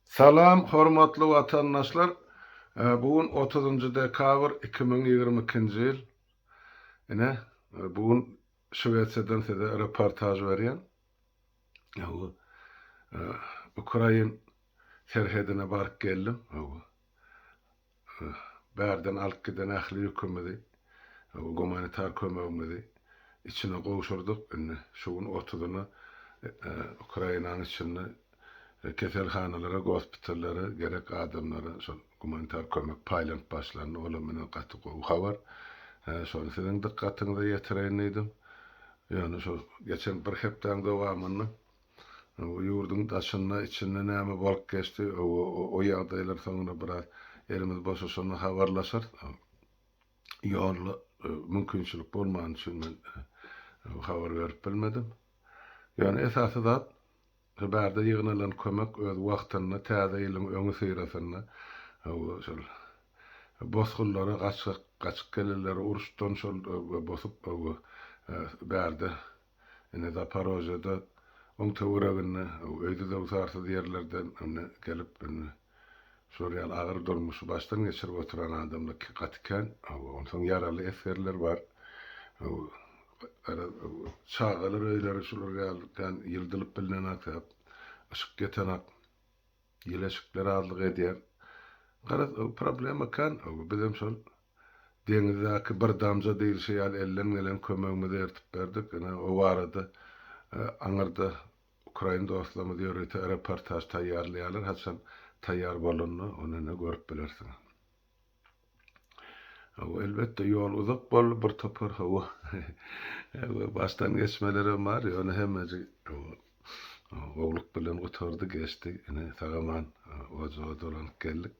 Salam hormatly watandaşlar bu gün otuzynjy dekabr iki müň ýigrimi ikinji ýyl ine bu gün şwesiýadan size reportaž berýän bu ukrain serhedine baryp geldim bu Bärden alyp giden ähli ýükümizi, gumanitar kömegimizi içine gowşurdyk. Indi şu gün otuzyna Ukrainanyň içinde keselhanalara, gospitallara gerek adamlara şol gumanitar kömek paýlanyp başlandy. Olam meni gaty gowy habar. Şony siziň dykgatyňyza ýetireýin diýdim. Ýöne şu geçen bir hepdäň dowamynda Bu ýurduň daşynda, içinde näme bolup geçdi, o ýagdaýlar soňra biraz elimiz boşaşanda habarlaşarys. Ýolla mümkinçilik bolmany üçin men habar berip bilmedim. Ýöne esasy zat, şu bärde ýygnalan kömek öz wagtynda täze ýylyň öňüsyrasynda şol bosgunlara gaçyp gelenleri uruşdan şol bosup bärde Indi Zaparožýada, oň töwereginde, öýdüzöwsarsyz ýerlerden indi gelip, indi şular ýaly agyr durmuşy başdan geçirip oturan adamlar gaty kän. Onsoň ýaraly esgerler bar. Garaz, çagalar öýleri şular ýaly kän ýyldylyp bilnenak, yşyk ýetenak. Ýylaşykly razylyk edýär. Garaz, o problema kän. Bizem şol deňizdäki bir damja diýlişi ýaly elden gelen kömegimizi ertip berdik. Ine, o barada aňyrda ukrain dostlarymyz ýörite reportaž taýýarlaýarlar. Haçan taýýar bolanda, onda ine görüp bilersiňiz. Hawa, elbetde, ýol uzak boldy, bir topar, hawa, hawa, başdan geçmelerem bar, ýöne hemmeji, hawa, gowulyk bilen gutardy, geçdi, ine, sag-aman ojaga dolanyp geldik.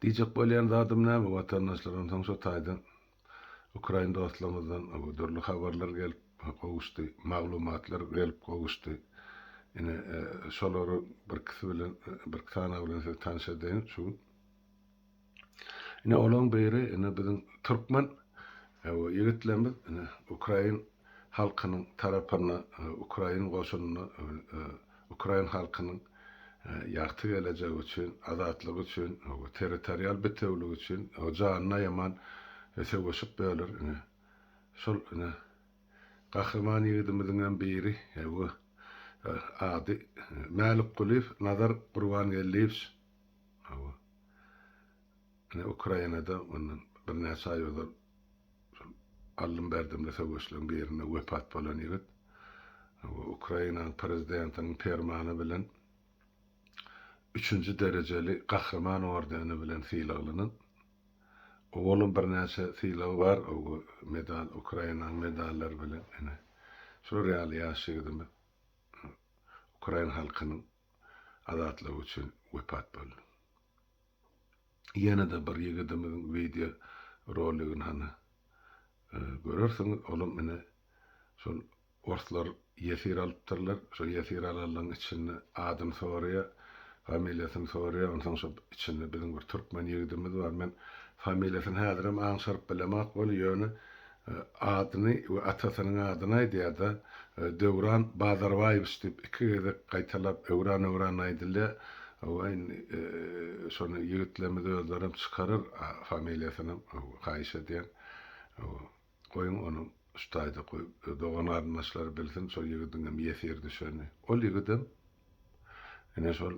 Diýjek bolýan zadym näme, watandaşlar, onsoň şo taýdan, Ukrain dostlarymyzdan dürli habarlar gelip gowuşdy, maglumatlar gelip gowuşdy. Ine, şolary birkisi bilen, birki sanawy bilen sizi tanyş edeýin şu gün. Ine, olaryň biri, ine, biziň türkmen ýigitlerimiz, ine, ukrain halkynyň tarapynda, ukrain goşunynda, Ukrain halkynyň ýagty gelejegi üçin, azatlygy üçin, territorial bitewiligi üçin janyny aýaman söweşip böler. Ine, şol ine gahryman ýigidimiziňem biri bu ady Mälikgulyýew Nazar Gurbangeldiýewiç. Ine, Ukrainada mundan birnäçe aý ozal şol aldym-berdimli söweşleriň birinde wepat bolan ýigit we Ukrainanyň Prezidentiniň permany bilen üçünji derejeli Gahryman ordeni bilen sylaglanan. Owalam birnäçe sylagy bar, medal, Ukrainanyň medallary bilen. Ine, şular ýaly ýaş ýigidimiz ukrain halkynyň azatlygy üçin wepat boldy. Ýene-de bir ýigidimiziň wideo roligini hany görersiňiz. Olam ine şol orslar ýesir alypdyrlar. Şo ýesir alanlaryň içinde adyny soraýar, familiýasyny soraýar. Onsoň şo içinde biziň bir türkmen ýigidimiz bar. Men familiýasyny häzirem aňşyryp bilemok weli, ýöne adyny we atasynyň adyny aýdýar-da, Döwran Bazarbaýewiç diýip iki gezek gaýtalap, öwran-öwran aýdylýar. Hawa, indi şony ýigitlerimiz özlerem çykarar familiýasynam, haýyş edýän. Hawa, goýuň ony şu taýda goýup, dogan-garyndaşlar bilsin, şol ýigidiňem ýesir düşenini. Ol ýigidem ine şol.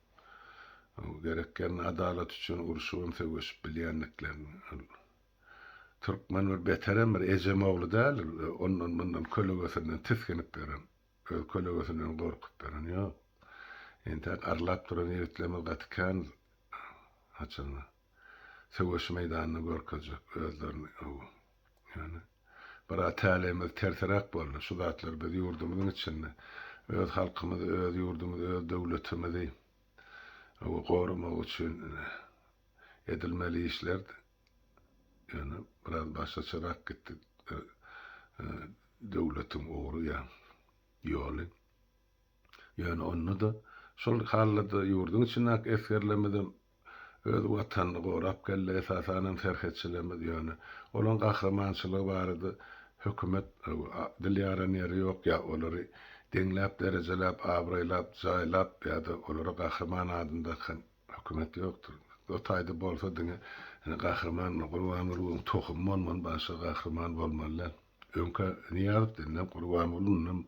Gerek ýerinde adalat üçin urşup hem söweşip bilýändiklerini. Türkmen bir beterem bir ejem ogly däl ondan mundan kölegesinden tisginip ýören. Öz kölegesinden gorkup ýören ýok. Entäk arlap duran ýigitlerimiz gaty kän haçanda söweş meýdanynda görkezjek özlerini. Ýöne. Bir ata-älemiz terseräk boldy. Şu zatlar biz ýurdumyzyň içinde öz halkymyzy, öz ýurdumyzy, öz döwletimizi goramak üçin edilmeli işlerdi. Ýöne biraz başgaçarak gitdi döwletiň ugry ýa ýoly. Ýöne onda-da şol hallada ýurduň içindäki esgerlerimizem Öz Watanyny gorap geldi, esasanam serhetçilerimiz, ýöne olaryň gahrymançylygy barada hökümet dil ýaran ýeri ýok, ýa olary deňläp, derejelap, abraýlap, jaýlap ýa-da olara gahryman adyny dakan hökümet ýokdur. O taýda bolsa diňe gahryman Gurbangulyň tohumy bolmaly, başga gahryman bolmaly däl. Öňkä Nyýazow denilen Gurbanguly ynam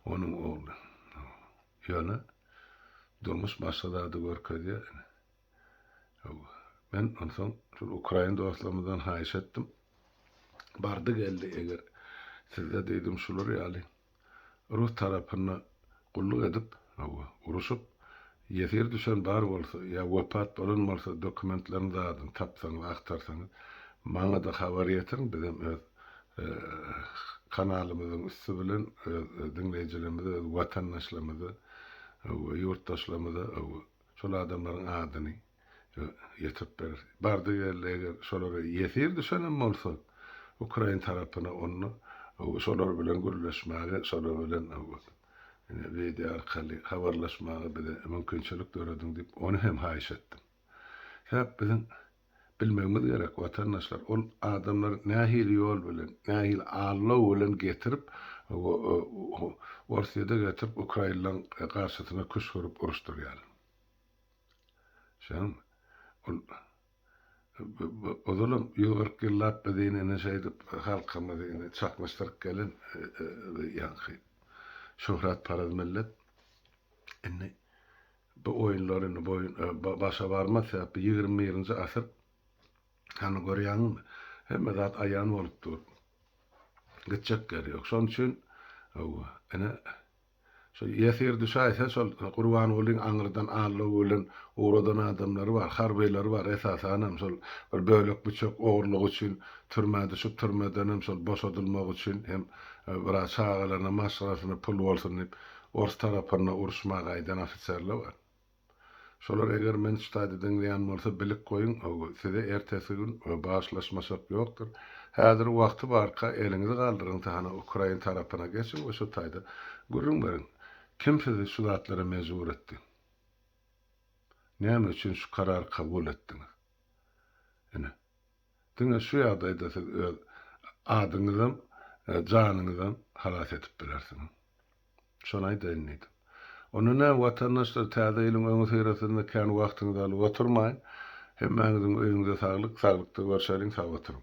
onuň ogly. Ýöne durmuş başga zady görkezýär. Men onsoň şol ukrain dostlarymyzdan haýyş etdim. Bardy geldi eger sizde diýdim şular ýaly rus tarapyna gulluk edip, hawa, uruşyp ýesir düşen bar bolsa ýa wepat bolan bolsa dokumentlerini zadyny tapsaňyz, agtarsaňyz maňa-da habar ýetiriň bizem öz kanalymyzyň üsti bilen öz diňleýjilerimize, öz watandaşlarymyza we ýurtdaşlarymyza şol adamlaryň adyny ýetirip berer. Bardy geldi eger şolara ýesir düşenem bolsa ukrain tarapyna onda şolar bilen gürleşmäge, şolar bilen wideo arkaly habarlaşmaga bize mümkinçilik dörediň diýip ony hem haýyş etdim. Sebäp biziň Bilmegimiz gerek, watandaşlar, ol adamlary nähili ýol bilen, nähili aldaw bilen getirip, Orsýede getirip, ukrainlaň garşysyna küşgürip uruşdyrýar. Şaňmy? Ol ozalam ýüz kyrk ýyllap biz ine indi şeýdip halkymyzy indi çaknyşdyryp gelen ýaňky şöhratparaz millet indi Bu oýunlar indi boýun başa barmaz, sebäpli ýigrimi birinji asyr, hany görýäňizmi, hemme zat aýan bolup dur, gitjek ýeri ýok, şonuň üçin, hawa, ine, şo ýesir düşäýse, şol Gurbangulyň aňyrdan allow bilen ugradan adamlary bar, harbylary bar, esasanam şol bir bölek-büçek ogurlygy üçin türmä düşüp, türmedenem şol boşadylmagy üçin hem biraz çagalarynam maşgalasyna pul bolsun diýip, Ors tarapynda uruşma gaýdan ofiserler bar. Şolar eger men ştady diňleýän bolsa bilip goýuň, size ertesi gün bagyşlaşmaşak ýokdur. Häzir wagty barka eliňizi galdyryň tahana ukrain tarapyna geçiň we şo taýda gürrüň beriň. Kim sizi şu zatlara mejbur etdi? Näme üçin şu karary kabul etdiňiz? Ine. Diňe şu ýagdaýda siz öz adyňyzam, janyňyzam halas edip bilersiňiz. Şony aýdaýyn diýdim. Onda näme, watandaşlar, Täze ýylyň öňüsyrasynda kän wagtyňyzy alyp oturmaýyn. Hemmäňiziň öýüňize saglyk, saglykda görşeliň, sag oturyň!